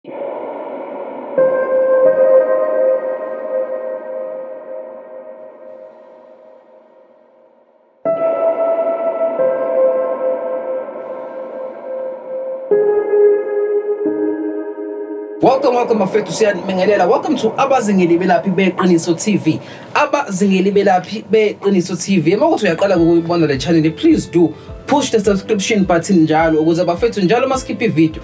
Welcome, welcome bafethu siyanibingelela. Welcome to abazingeli belaphi beqiniso TV. Abazingeli belaphi beqiniso TV. Uma ukuthi uyaqala ukuyibona le channel, please do push the subscription button njalo ukuze bafethu njalo masikhipha ivideo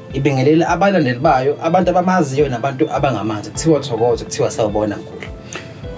Ibingelele abalandeli bayo, abantu abamaziyo nabantu abangamazi. Kuthiwa thokoza, kuthiwa sawubona mkhulu.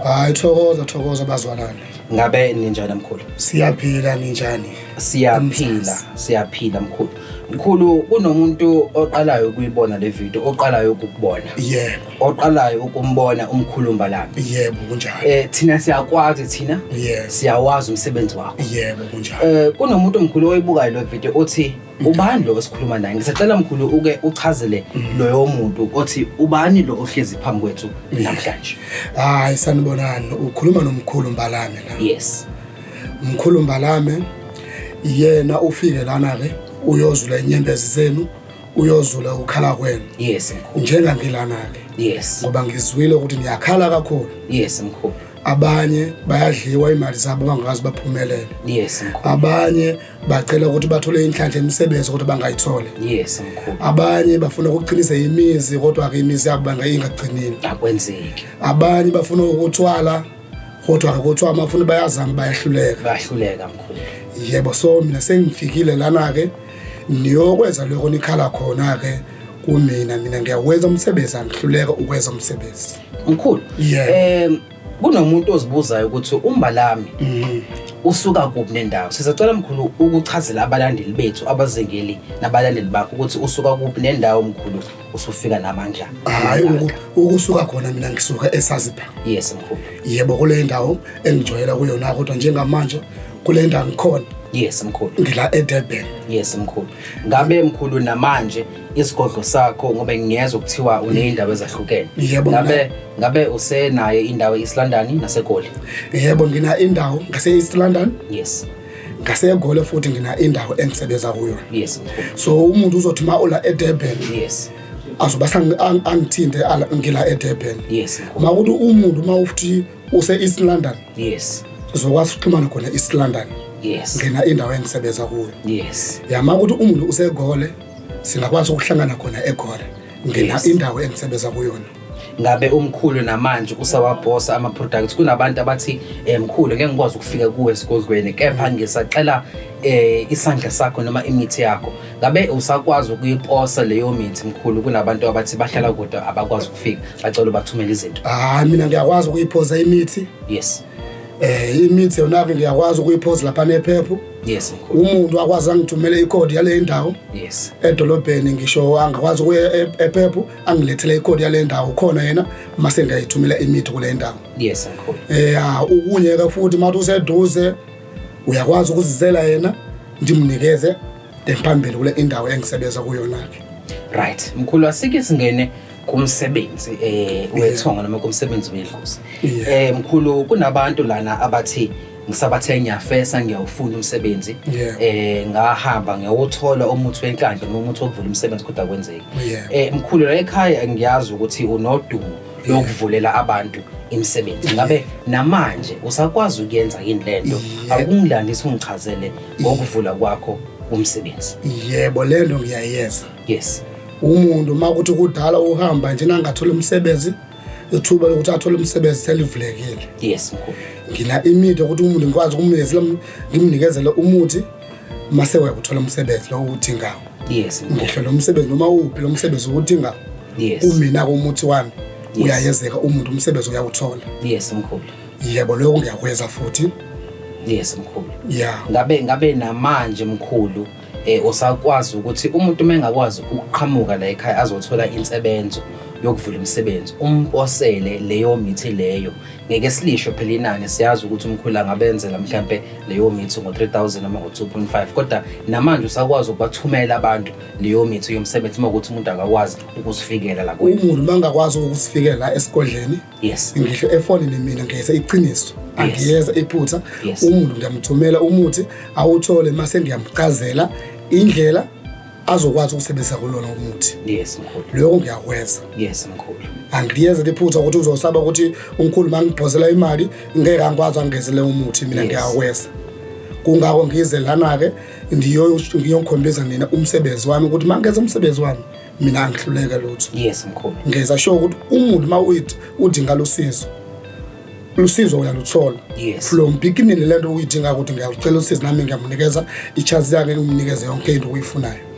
Hayi thokoza thokoza bazwalane. Ngabe ninjani mkhulu? Siyaphila ninjani? Siyaphila, siyaphila mkhulu. Mkhulu kunomuntu oqalayo ukuyibona le video, oqalayo ukukubona. Yebo. Oqalayo ukumbona umkhulumba lami. Yebo kunjalo. Eh thina siyakwazi thina. Yebo. Siyawazi umsebenzi wakho. Yebo kunjalo. Eh kunomuntu omkhulu oyibukayo le video othi ubani lo esikhuluma naye ngisacela mkhulu uke uchazele loyo muntu othi ubani lo ohlezi phambi kwethu namhlanje hayi sanibonani ukhuluma nomkhulu mbalame la yes mkhulu mbalame yena ufike lana ke uyozula inyembezi zenu uyozula ukukhala kwenu yes mkhulu njengangilana ke yes ngoba ngizwile ukuthi niyakhala kakhulu yes mkhulu abanye bayadliwa imali zabo bangazi baphumelele yes mkhulu abanye bacela ukuthi bathole inhlanhla emisebenzi kodwa bangayithole yes mkhulu abanye bafuna ukuqinisa imizi kodwa ke imizi yabo bangayingagcinile akwenzeki abanye bafuna ukuthwala kodwa ke kuthiwa abafuna bayazama bayahluleka bayahluleka mkhulu yebo so mina sengifikile lana ke niyokwenza lokho nikhala khona ke kumina mina ngiyakwenza umsebenzi angihluleka ukwenza umsebenzi mkhulu Yebo. um Kunomuntu ozibuzayo ukuthi uMbalami mhm. usuka kuphi nendawo. Sizocela mkhulu ukuchazela abalandeli bethu abazengeli nabalandeli bakho ukuthi usuka kuphi nendawo mkhulu usufika namandla. Hayi ukusuka khona mina ngisuka eSazipha. Yes mkhulu. Yebo kule ndawo engijwayela kuyona kodwa njengamanje kule ndawo ngikhona. Yes mkhulu. Ngila eDurban. Yes mkhulu. Ngabe mkhulu namanje isigodlo sakho ngoba ngiyezwa kuthiwa uneyindawo ezahlukene Yebo, ngabe ngabe usenayo indawo e-East London nasegoli yebo ngina indawo ngase-east london yes ngasegole futhi ngina indawo engisebenza kuyo yes so umuntu uzothi ma ula edurban yes azoba sang- ang- angithinte ala- ngila edurban yes ma ukuthi umuntu ma ufuthi use-east london yes sizokwazi ukuxhumana khona east london yes ngina indawo engisebenza kuyo yes yama ukuthi umuntu usegole singakwazi ukuhlangana khona egora ngina Yes. indawo engisebenza kuyona ngabe umkhulu namanje usawabhosa ama-products kunabantu abathi um mkhulu ngeke ngikwazi ukufika kuwe esigodlweni kepha ngisacela um isandla sakho noma imithi yakho ngabe usakwazi ukuyiposa leyo mithi mkhulu kunabantu abathi bahlala kude abakwazi ukufika bacela ubathumele izinto hayi mina ngiyakwazi ukuyiphosa imithi yes eh imithi yona ke ngiyakwazi ukuyiphosa lapha nephephu yes umuntu akwazi angithumele icode yale ndawo yes edolobheni ngisho angakwazi ukuya e- ephephu angilethele icode yale ndawo khona yena mase ngiyayithumela imithi kule ndawo yes mkhulu eh ah, ukunye ke futhi mathi useduze uyakwazi ukuzizela yena ndimnikeze phambili kule indawo engisebenza kuyona-ke right mkhulu asike singene kumsebenzi eh wethonga noma kumsebenzi wedlozi eh mkhulu kunabantu lana abathi ngisabathe ngiyafesa ngiyawufunda umsebenzi eh ngahamba ngiyawuthola umuthi wenkandla noma umuthi wokuvula umsebenzi kodwa kwenzeki eh mkhulu la ekhaya ngiyazi ukuthi unodumo lokuvulela abantu imisebenzi ngabe namanje usakwazi ukuyenza yini lento akungilandisa ungichazele ngokuvula kwakho umsebenzi yebo lento ngiyayenza yes umuntu uma kuthi kudala uhamba nje nangathola umsebenzi ithuba lokuthi athole umsebenzi selivulekile yes mkhulu ngina imithi ukuthi umuntu ngikwazi ukumnikeza ngimnikezele umuthi mase wayakuthola umsebenzi lo uthi ngawo yes ngisho lo msebenzi noma uphi lo msebenzi ukuthi ngawo yes umina komuthi wami uyayezeka umuntu umsebenzi uyawuthola yes mkhulu Yebo lokho ngiyakwenza futhi. Yes mkhulu. Yeah. Ngabe ngabe namanje mkhulu eh usakwazi ukuthi umuntu mengakwazi ukuqhamuka la ekhaya azothola insebenzo yokuvula umsebenzi umposele leyo mithi leyo ngeke silisho phela inani siyazi ukuthi umkhulu angabenzela mhlambe leyo mithi ngo-3000 noma ngo-2.5 kodwa namanje usakwazi ukubathumela abantu leyo mithi yomsebenzi uma ukuthi umuntu akakwazi ukusifikela la umuntu uma ngakwazi ukusifikela esigodleni yes ngisho efonini mina ngiyeza iqiniso angiyeza iphutha umuntu ngiyamthumela umuthi awuthole mase ngiyamchazela indlela azokwazi ukusebenzisa kulona umuthi yes mkhulu lokho ngiyakwenza yes mkhulu angiyeze liphutha ukuthi uzosaba ukuthi umkhulu mangiphozela imali ngeke angikwazi angezele umuthi mina ngiyakwenza kungako ngize lana ke ngiyokhombisa nina umsebenzi wami ukuthi mangenza umsebenzi wami mina angihluleke lutho yes mkhulu ngeza sho ukuthi umuntu uma uyithi udinga losizo lusizo uyaluthola yes. from beginning le nto uyidinga ukuthi ngiyacela usizo nami ngiyamunikeza ichance yakhe ngimnikeze yonke into uyifunayo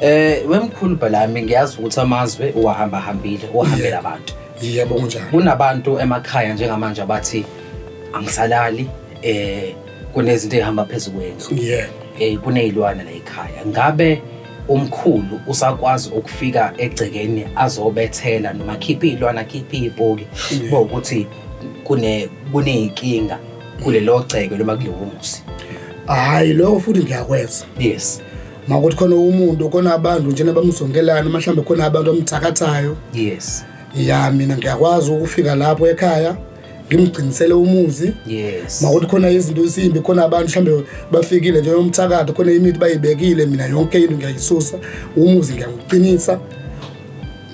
Eh wemkhulu bhalami ngiyazi ukuthi amazwe uwahamba hambile uhambela abantu. Yebo kunjalo. Kunabantu emakhaya njengamanje abathi angisalali eh kunezinto ezihamba phezulu kwendlu. Yebo. Eh kunezilwane la ekhaya. Ngabe umkhulu usakwazi ukufika egcekeni azobethela noma khipha iy'lwana khipha iy'poki kuba ukuthi kune- kuney'nkinga kulelo gceke noma kulowo muzi hhayi lokho futhi ngiyakwenza yes uma kuthi khona umuntu khona abantu njena bamzongelana uma mhlawumbe khona abantu amthakathayo yes ya mina ngiyakwazi ukufika lapho ekhaya ngimgcinisele umuzi yes makuthi khona izinto ezimbi khona abantu mhlambe bafikile nje umthakathi khona imithi bayibekile mina yonke into ngiyayisusa umuzi ngiyakuqinisa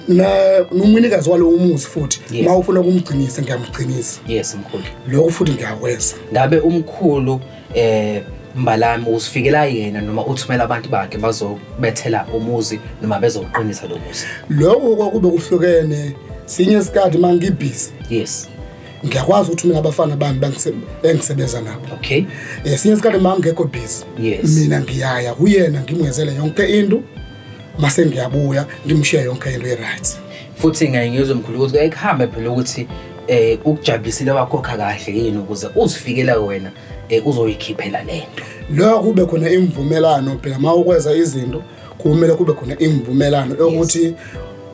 na nomunikazi walo umuzi futhi yes. mawufuna ukumgcinisa ngiyamgcinisa yes mkhulu lokho futhi ngiyakwenza ngabe umkhulu eh mbalami usifikela yena noma uthumela abantu bakhe bazobethela umuzi noma bezoqinisa lo muzi lokho kwakube kuhlukene sinye isikhathi uma ngibhizi yes ngiyakwazi ukuthi mina abafana bami bangise- engisebenza nabo okay esinye isikhathi uma ngingekho busy Yes. mina ngiyaya kuyena ngimwenzele yonke into mase ngiyabuya ngimshiya yonke into e-right futhi ngaye ngizwe mkhulu ukuthi kuyaye kuhambe phela ukuthi eh ukujabulisile wakhokha kahle yini ukuze uzifikele wena eh, uzoyikhiphela lento lokho kube khona imvumelano phela uma ukwenza izinto kumele kube khona imvumelano yokuthi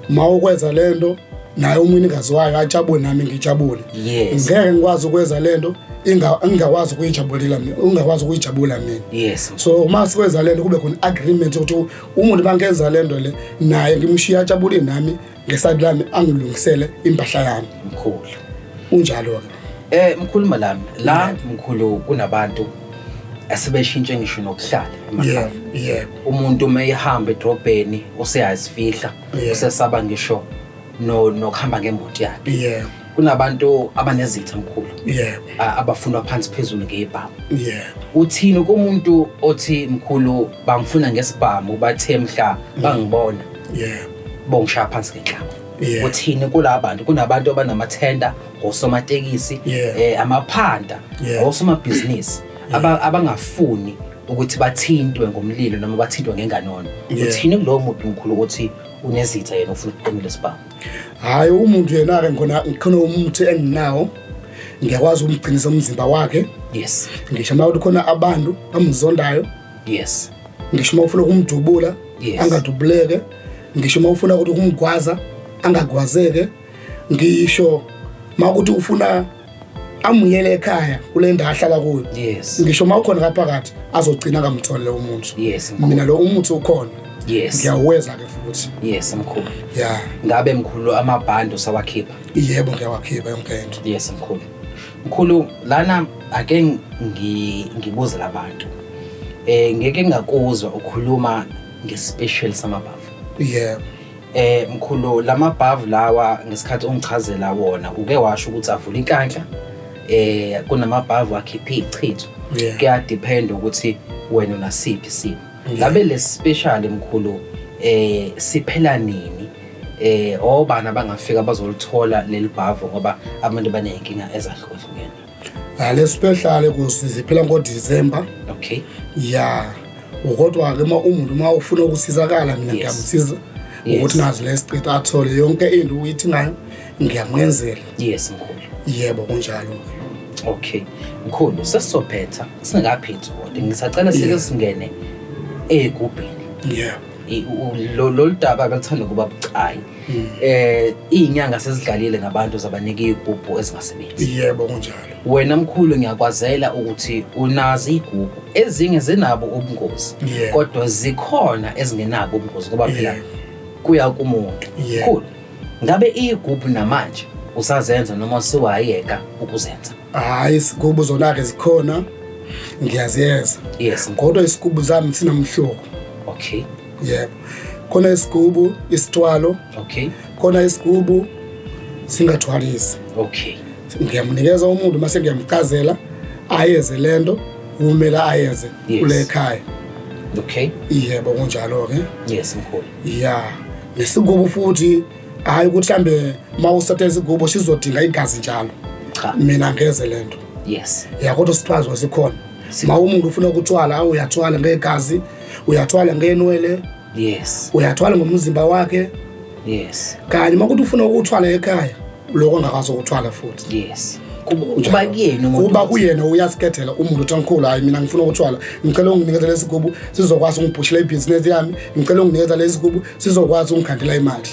uma ukwenza le nto naye umnikazi wayo ajabule nami ngijabule yes ngeke ngikwazi ukwenza le nto inga- engingakwazi ukuyijabulela mina ungakwazi ukuyijabula mina yes so uma sikwenza le nto kube khona i-agreement yokuthi u- umuntu uma ngenza le nto le naye ngimshiye ajabule nami ngesayidi lami angilungisele impahla yami mkhulu unjalo-ke eh mkhulu malami la mkhulu kunabantu asebeshintshe ngisho nokuhlala emakhaya yebo umuntu uma ehamba edrobheni useyazifihla Yeah. usesaba ngisho no- nokuhamba ngembuti yakhe yebo kunabantu abanezitha mkhulu yebo a- abafunwa phansi phezulu ngebhamu yebo uthini kumuntu othi mkhulu bangifuna ngesibhamu bathe mhla bangibona yebo bongishaya phansi ngenhlamba Yeah. uthini kulaba bantu kunabantu abanamathenda osomatekisi yeah. eh, amaphanda yeah. osomabhizinisi yeah. aba, abangafuni ukuthi bathintwe ngomlilo noma bathintwe ngenganono yeah. uthini kulowo muntu mkhulu ukuthi unezitha yena ufuna ukuqinile sibhamu hhayi umuntu yena-ke ngona khona umuthi enginawo ngiyakwazi ukumgcinisa umzimba wakhe yes ngisho uma ukuthi khona abantu bamzondayo yes ngisho uma ufuna ukumdubula yes. angadubuleke ngisho uma ufuna ukuthi ukumgwaza angagwazeke ngisho makuthi ufuna amuyele ekhaya kule ndawo ahlala kuyo yes ngisho uma ukhona ngaphakathi azogcina kamtholele umuntu yes mina lo umuthi ukhona yes ngiyaweza ke futhi yes mkhulu yeah ngabe mkhulu amabhandi usawakhipha yebo ngiyawakhipha yonke into yes mkhulu mkhulu lana ake ngibuze labantu eh ngeke ngakuzwa ukhuluma ngespecial samabavu yebo yeah. Eh mkhulu lamabhavu lawa ngesikhathi ungichazela wona uke washo ukuthi avula inkanhla eh kunamabhavu akhipha ichitho Yeah. kuya depend ukuthi wena unasiphi isimo Yeah. labe le special mkhulu eh siphela nini eh obani abangafika bazolithola leli bhavu ngoba abantu baneyinkinga ezahlukahlukene ngale special kusi ziphela ngodecember okay ya kodwa-ke uma umuntu uma ufuna ukusizakala mina ngiyamsiza ukuthi nazi le street athole yonke into uyithi ngayo ngiyamwenzela yes mkhulu yebo kunjalo-ke okay mkhulu sesizophetha singakaphethi kodwa ngisacela sike singene ey'gubhini yeah lolu daba kaluthanda ukuba bucayi hmm. eh izinyanga sezidlalile ngabantu zabanika igubhu ezingasebenzi yebo kunjalo wena mkhulu ngiyakwazela ukuthi unazi igubhu ezinye zinabo ubungozi kodwa zikhona ezingenabo ubungozi ngoba phela kuya kumuntu mkhulu ngabe igubhu namanje usazenza noma siwayeka ukuzenza hayi isigubu zona-ke zikhona ngiyaziyeza yes kodwa isigubu zami sinamhlobo okay yebo khona isigubu isithwalo okay khona isigubu singathwalisi okay ngiyamunikeza umuntu mase ngiyamchazela ayeze lento kumele ayenze kule ekhaya okay yebo kunjalo ke yes mkhulu yeah nesigubu futhi hayi ukuthi mhlawumbe uma usotha isigubo sizodinga igazi njalo cha mina ngeze le nto yes ya kodwa sithwazwa sikhona ma umuntu ufuna ukuthwala awu uyathwala ngegazi uyathwala ngenwele yes uyathwala ngomzimba wakhe yes kanye uma kuthi ufuna ukuthwala ekhaya lokho angakwazi ukuthwala futhi yes kuba kuyena umuntu kuba kuyena uyasikethela umuntu uthi angikhulu hayi mina ngifuna ukuthwala ngicela unginikeza lesigubu sizokwazi ungibhushela ibhizinesi yami ngicela unginikeza lesigubu sizokwazi ungikhandela imali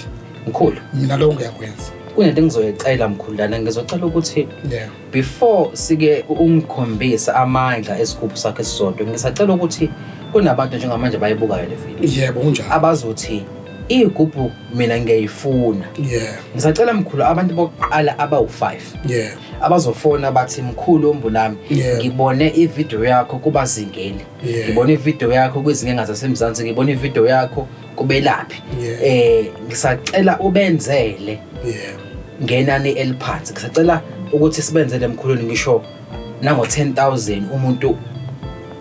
mkhulu mina lo ngiyakwenza kunento engizoyicela mkhulu lana ngizocela ukuthi yeah before sike ungikhombisa amandla esigubhu sakhe sisodwa ngisacela ukuthi kunabantu njengamanje bayibukayo le video yebo kunjalo abazothi iyigubhu mina ngiyayifuna yeah ngisacela mkhulu abantu bokuqala abawu5 yeah abazofona bathi mkhulu ombulami Yeah. ngibone ivideo yakho kubazingeli Yeah. ngibona ivideo yakho kwizinkinga zasemzansi ngibona ivideo yakho kubelaphi Yeah. eh ngisacela ubenzele Yeah. ngenani eliphansi ngisacela ukuthi sibenzele emkhulwini ngisho nango 10000 umuntu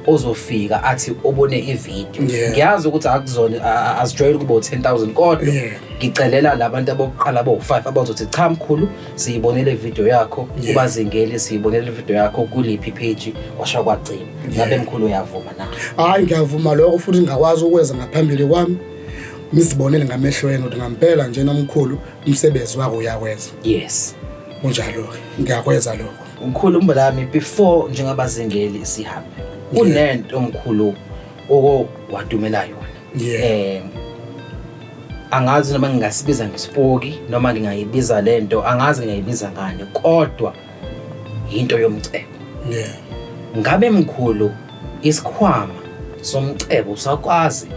ozofika athi obone ivideo Yeah. ngiyazi ukuthi akuzona a- a- azijwayele ukuba u-10000 kodwa Yeah. ngicelela labantu abokuqala abawu-5 abazothi cha mkhulu siyibonele video yakho yeah. ubazingeli siyibonele video yakho kuliphi page washa kwagcina ngabe yeah. mkhulu uyavuma na hayi ngiyavuma lokho futhi ngingakwazi ukwenza ngaphambili kwami ngizibonele ngamehlo yenu ukuthi ngampela nje nomkhulu umsebenzi wako uyakwenza yes unjalo ngiyakwenza lokho mkhulu umbalami before njengabazingeli sihambe kunento mkhulu oko wadumela yona yeah. um angazi noma ngingasibiza ngesipoki noma ngingayibiza le nto angazi ngingayibiza ngani kodwa yinto yomcebo yeah. ngabe mkhulu isikhwama somcebo usakwazi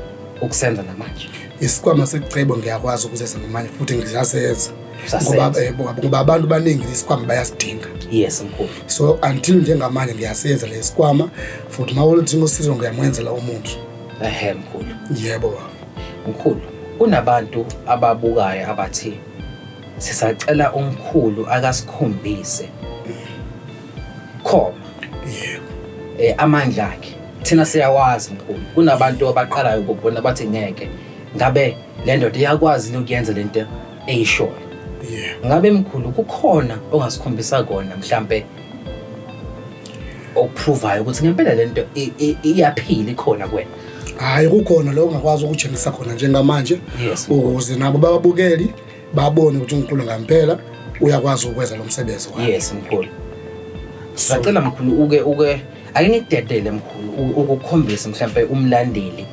ukusenza namanje isikhwama secebo ngiyakwazi ukuzenza namanje futhi ngizasenza Eh, ngoba abantu baningi lesikwama bayasidinga yes mkhulu so until njengamanje ngiyasenza lesikwama futhi uma uludinga usizo ngiyamwenzela umuntu ehe mkhulu yebo baba mkhulu kunabantu ababukayo abathi sisacela umkhulu akasikhombise khoma yebo eh amandla akhe thina siyawazi mkhulu kunabantu abaqalayo ukubona bathi ngeke ngabe le ndoda iyakwazi yini ukuyenza le nto eyishoyo yebo ngabe mkhulu kukhona ongasikhombisa kona mhlampe okuphuvayo ukuthi ngempela lento iyaphila ikhona kuwena hayi kukhona lo ungakwazi ukutshengisa khona njengamanje ukuze nabo bababukeli babone ukuthi uNkulunkulu ngampela uyakwazi ukwenza lo msebenzi wakhe yes mkhulu sacela mkhulu uke uke ake ngidedele mkhulu ukukhombisa mhlawumbe umlandeli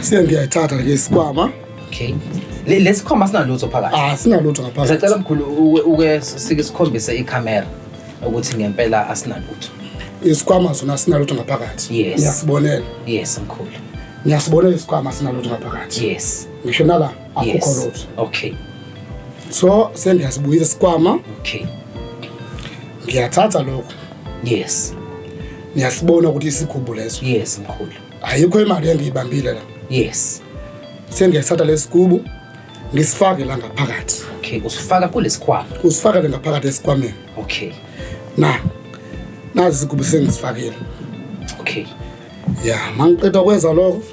Siya ngiyayithatha ke isikwama. Okay. Le lesikhoma sinalutho phakathi. Ah sinalutho ngaphakathi. Sicela mkhulu uke sike sikhombise iCamera ukuthi ngempela asinalutho. Isikwama sona sinalutho ngaphakathi. Yes. Ngiyasibonela. Yes mkhulu. Ngiyasibonela isikwama sinalutho ngaphakathi. Yes. Ngisho nala. yes okay so sendiyasibuyisa isikwama okay ngiyathatha lokho yes ngiyasibona ukuthi isikhubu leso yes mkhulu ayikho imali engiyibambile la yes sengiyathatha lesikubu ngisifake la ngaphakathi okay usifaka kulesikwama usifaka le ngaphakathi esikwameni okay na nazi isigubu sengisifakiele okay ya mangiqeda kwenza lokho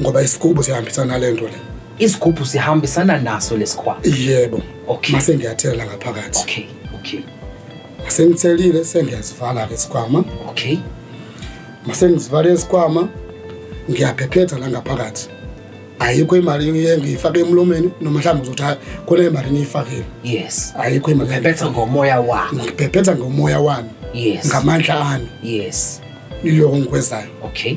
ngoba isigubhu sihambisana nale nto le isigubhu sihambisana naso lesikhwama yebo Okay. mase ngiyathela ngaphakathi okay okay masengithelile sengiyazivala ke isikhwama okay mase ngizivale isikhwama ngiyaphephetha la ngaphakathi ayikho imali engiye ngiyifake emlomeni noma mhlawumbe uzothi "Hayi, khona imali niyifakile yes ayikho imali bephetha ngomoya wakho ngiphephetha ngomoya wami yes ngamandla ami yes iloko engikwezayo okay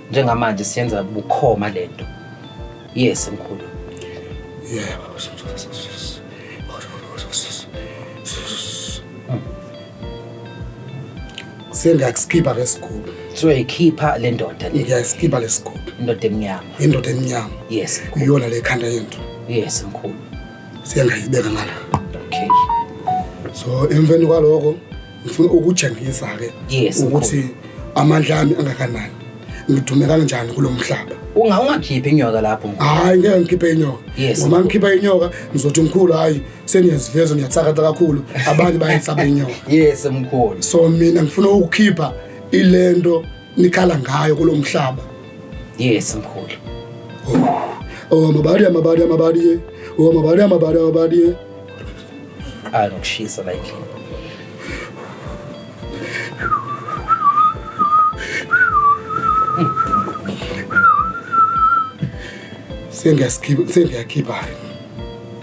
njengamanje siyenza bukhoma lento yes mkhulu yebo sengakusikhipha lesigubhu soyikhipha le ndoda le ngiyasikhipha lesigubhu indoda emnyama indoda emnyama yes kuyona le khanda yento yes mkhulu siyangayibeka ngala okay so emveni kwaloko ngifuna ukutshengisa-ke Yes, ukuthi amandla ami angakanani ngidume kanjani kulo mhlaba Unga ungakhiphi inyoka lapho mkhulu. hhayi ngeke ngikhiphe inyoka Yes. ngoba ngikhipha inyoka ngizothi mkhulu hhayi seniyaziveza niyathakatha kakhulu abanye bayayisaba inyoka Yes mkhulu. so mina ngifuna ukukhipha ilento nikhala ngayo kulo mhlaba Yes mkhulu. oh mabadi amabadi amabadi oh mabadi amabadi amabadi Ay nokushisa la endlini. Sengiyaskhipa sengiyakhipha.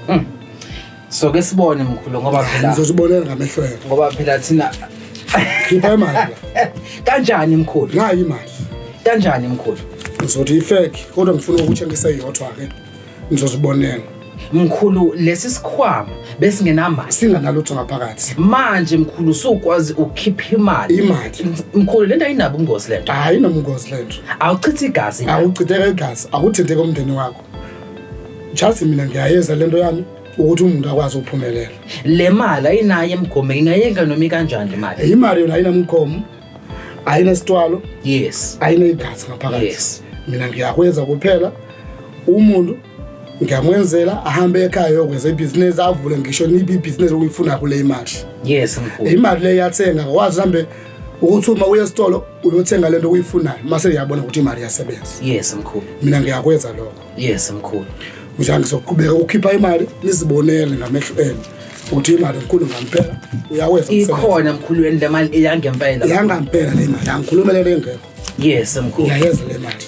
Mm. So ke sibone mkhulu ngoba phela ngizozibonela ngamehlo yakho. Ngoba phela thina khipha imali. Kanjani mkhulu? Nayi imali. Kanjani mkhulu? Ngizothi ifake kodwa ngifuna ukuthi ngiseyodwa ke. Ngizozibonela. Mkhulu lesi sikhwama besingenamali. Singanalutho ngaphakathi. Manje mkhulu sukwazi ukukhipha imali. Imali. Mkhulu lento ayinabo ingozi lento. Hayi nomngozi lento. Awuchithi igazi. Awuchitheke igazi, akuthinte komndeni wakho. Just mina ngiyayeza lento yami ukuthi umuntu akwazi ukuphumelela. Le mali ayinayo emgomo ingayeka noma kanjani imali. Imali yona ayinamgomo. ayinesitwalo yes ayinegazi ngaphakathi yes mina ngiyakwenza kuphela umuntu ngiyamwenzela ahambe ekhaya yokwenza ibhizinisi avule ngisho nibe ibhizinisi okuyifuna kule imali yes mkhulu imali le yathenga wazi hambe ukuthi uma uye esitolo uyothenga lento oyifunayo mase uyabona ukuthi imali iyasebenza yes mkhulu mina ngiyakwenza lokho yes mkhulu mzange ngizoqhubeka ukhipha imali nizibonele ngamehlo enu uthi imali mkhulu ngampela uyawenza ikhona mkhulu yeni le mali eyangempela yangampela le mali angikhulumele lengekho yes mkhulu yayenza le mali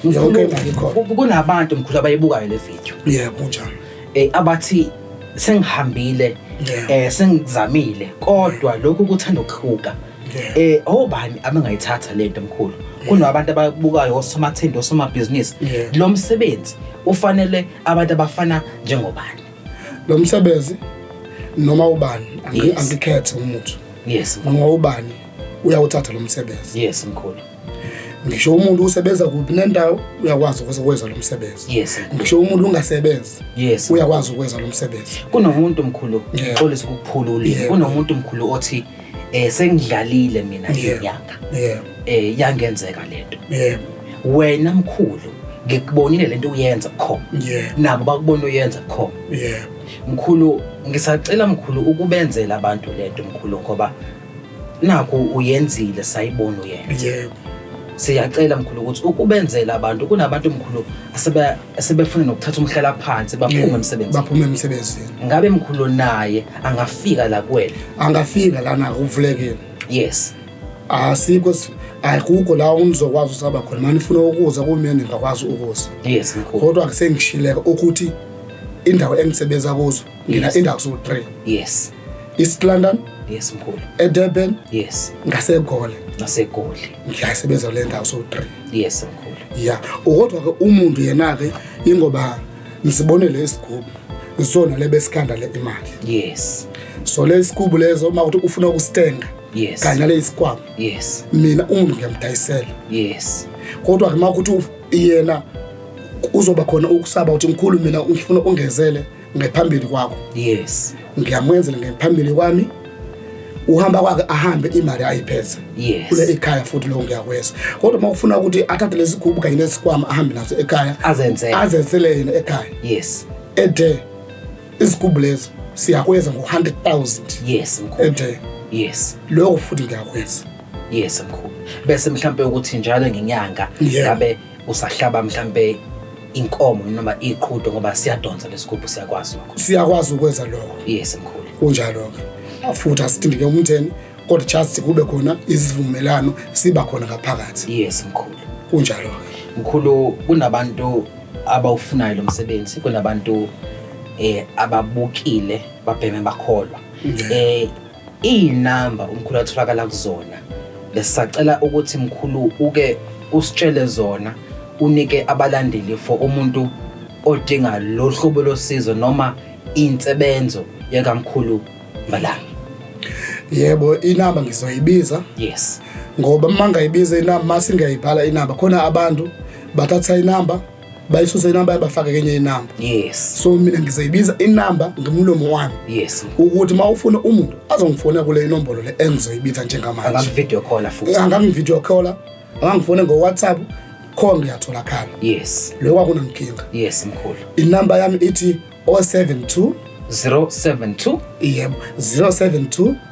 yonke imali ikhona kunabantu mkhulu abayibukayo le video yebo kunjalo eh abathi sengihambile eh sengizamile kodwa lokhu kuthanda ukuhluka eh obani abangayithatha lento mkhulu kunabantu ababukayo osomathindi osomabhizinisi lo msebenzi ufanele abantu abafana njengobani lo msebenzi noma ubani angikhethe umuntu yes noma ubani uyawuthatha lo msebenzi yes mkhulu ngisho umuntu usebenza kuphi nendawo uyakwazi ukwenza lo msebenzi yes ngisho umuntu ungasebenzi yes uyakwazi ukwenza lo msebenzi kunomuntu mkhulu xolisa ukuphula ulimi kunomuntu mkhulu othi yeah. eh sengidlalile mina Yeah. inyanga yebo eh yangenzeka lento yebo wena mkhulu ngikubonile lento uyenza khona yebo nabo bakubona uyenza khona yebo mkhulu ngisacela mkhulu ukubenzela abantu lento mkhulu ngoba naku uyenzile sayibona uyenza yebo siyacela mkhulu ukuthi ukubenzela abantu kunabantu mkhulu asebe sebefuna nokuthatha umhlala phansi baphume Yeah, emsebenzini baphume emsebenzini ngabe mkhulu naye angafika la kuwena angafika lana uvulekile yes asikho si- akukho la unizokwazi usaba khona mani funa ukuza kumina ningakwazi ukuza yes mkhulu kodwa kusengishileka ukuthi indawo engisebenza kuzo ngina yes. indawo so 3 yes East London yes mkhulu eDurban yes ngaseGoli ngaseGoli ngiyasebenza le ndawo so 3 yes mkhulu yeah ukodwa ke umuntu yena ke ingoba ngisibonele isigubu isona lebesikanda le imali yes so lesigubu lezo uma ukuthi ufuna ukustenga yes kanye lesikwama yes mina umuntu ngiyamdayisela yes kodwa ke makuthi yena uzoba khona ukusaba ukuthi mkhulu mina ngifuna ungezele ngephambili kwakho yes ngiyamwenzela ngephambili kwami uhamba kwakhe ahambe imali ayipheza yes. kule ekhaya futhi lokho ngiyakweza kodwa uma ufuna ukuthi athathe lesigubhu kanye nesikwama ahambe naso ekhaya azenzele azenzele yena ekhaya yes ethe isigubhu lezo siyakweza ngo-100000 yes mkhulu ethe yes lokho futhi ngiyakweza yes mkhulu bese mhlampe ukuthi njalo ngenyanga ngabe usahlaba mhlampe inkomo noma iqhudo ngoba siyadonsa lesigubhu siyakwazi lokho siyakwazi ukwenza lokho yes mkhulu kunjalo ke futhi asithindike umtheni kodwa just kube khona isivumelano siba khona ngaphakathi yes mkhulu kunjalo ke mkhulu kunabantu abawufunayo lo msebenzi kunabantu eh ababukile babheme bakholwa eh Iyinamba umkhulu atholakala kuzona. Besacela ukuthi mkhulu uke usitshele zona unike abalandeli for umuntu odinga lo hlobo losizo noma insebenzo yakamkhulu Mbalanga. Yebo inamba ngizoyibiza. Yes. Ngoba uma ngayibiza inamba masingayibhala inamba khona abantu bathatha inamba bayisuse inamba yabafake kenye inamba yes so mina ngizoyibiza inamba ngimlomo wami yes ukuthi uma ufuna umuntu azongifona kule inombolo le engizoyibiza njengamanje angavidio call futhi angavidio call angangifone ngo WhatsApp khona ngiyatholakala yes lokho akunankinga yes mkhulu inamba yami ithi 072 072 yebo 072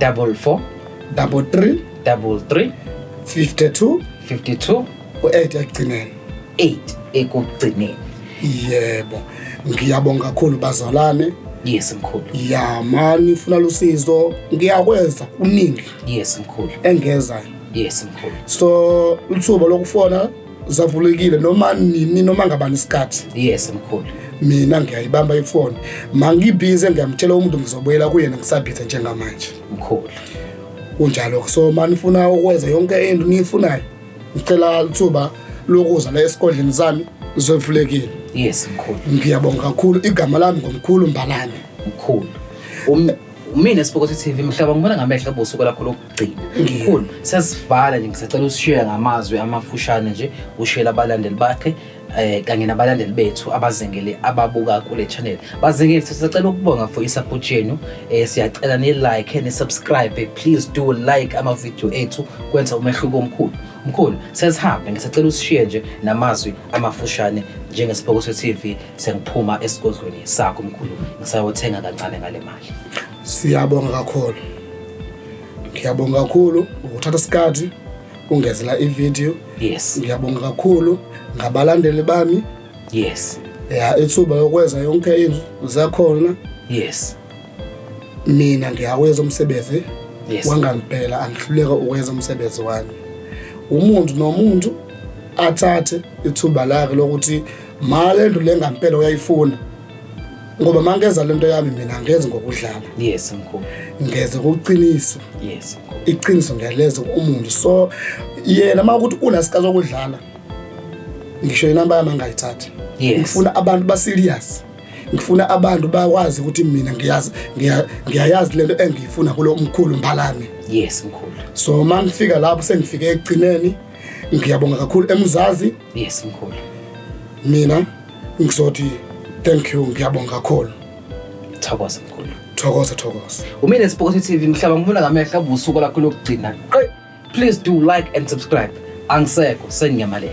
double four double three double three 52 52 u-8 ekugcineni 8 ekugcineni yebo ngiyabonga kakhulu bazalwane yes mkhulu ya ma nifuna lusizo ngiyakwenza kuningi yes mkhulu engezayo yes mkhulu so lithuba lokufona zavulekile noma nini noma ngabani isikhathi yes mkhulu mina ngiyayibamba ifoni mangibhize ngiyamtshela umuntu ngizobuyela kuyena ngisabhize njengamanje mkhulu kunjalo so manifuna ukwenza yonke into niyifunayo ngicela lithuba lokuza la esigodleni sami zovulekile yes mkhulu ngiyabonga kakhulu igama lami ngomkhulu mbalane mkhulu umina sibukothe TV mhlaba ngibona ngamehlo bosuku lakho Mkhulu sesivala nje ngisacela usishiye ngamazwi amafushane nje ushiyela abalandeli bakhe eh kanye nabalandeli bethu abazengele ababuka kule channel bazengele sisacela ukubonga for isupport yenu eh siyacela ni like ni subscribe please do like ama video ethu kwenza umehluko omkhulu mkhulu sesihambe ngisacela usishiye nje namazwi amafushane njengesibhoko se TV sengiphuma esigodlweni sakho mkhulu ngisayothenga kancane ngale mali Siyabonga kakhulu. Ngiyabonga kakhulu ukuthatha isikhathi ungezela ivideo. Yes. Ngiyabonga kakhulu ngabalandeli bami. Yes. Ya ithuba yokwenza yonke into zakhona. Yes. Mina ngiyaweza umsebenzi yes. wangampela angihluleka ukwenza umsebenzi wami. Umuntu nomuntu athathe ithuba lakhe lokuthi mali endlu lengampela uyayifuna ngoba mangeza lento yami mina ngeze ngokudlala yes mkhulu ngeze ngokuqinisa yes mkhulu iqiniso ngiyaleza umuntu so yena uma ukuthi unasika zokudlala ngisho inamba yami angayithathi yes. ngifuna abantu ba serious ngifuna abantu bakwazi ukuthi mina ngiyazi ngiyayazi lento engiyifuna kulo umkhulu mbalami yes mkhulu so mangifika lapho sengifike ekugcineni ngiyabonga kakhulu emuzazi Yes mkhulu. Mina ngizothi thank you ngiyabonga kakhulu. Thokoza mkhulu. Thokoza thokoza. Umile Spokotho TV mhlaba ngibona ngamehla busuku lakho lokugcina. Please do like and subscribe. Angisekho sengiyamalele.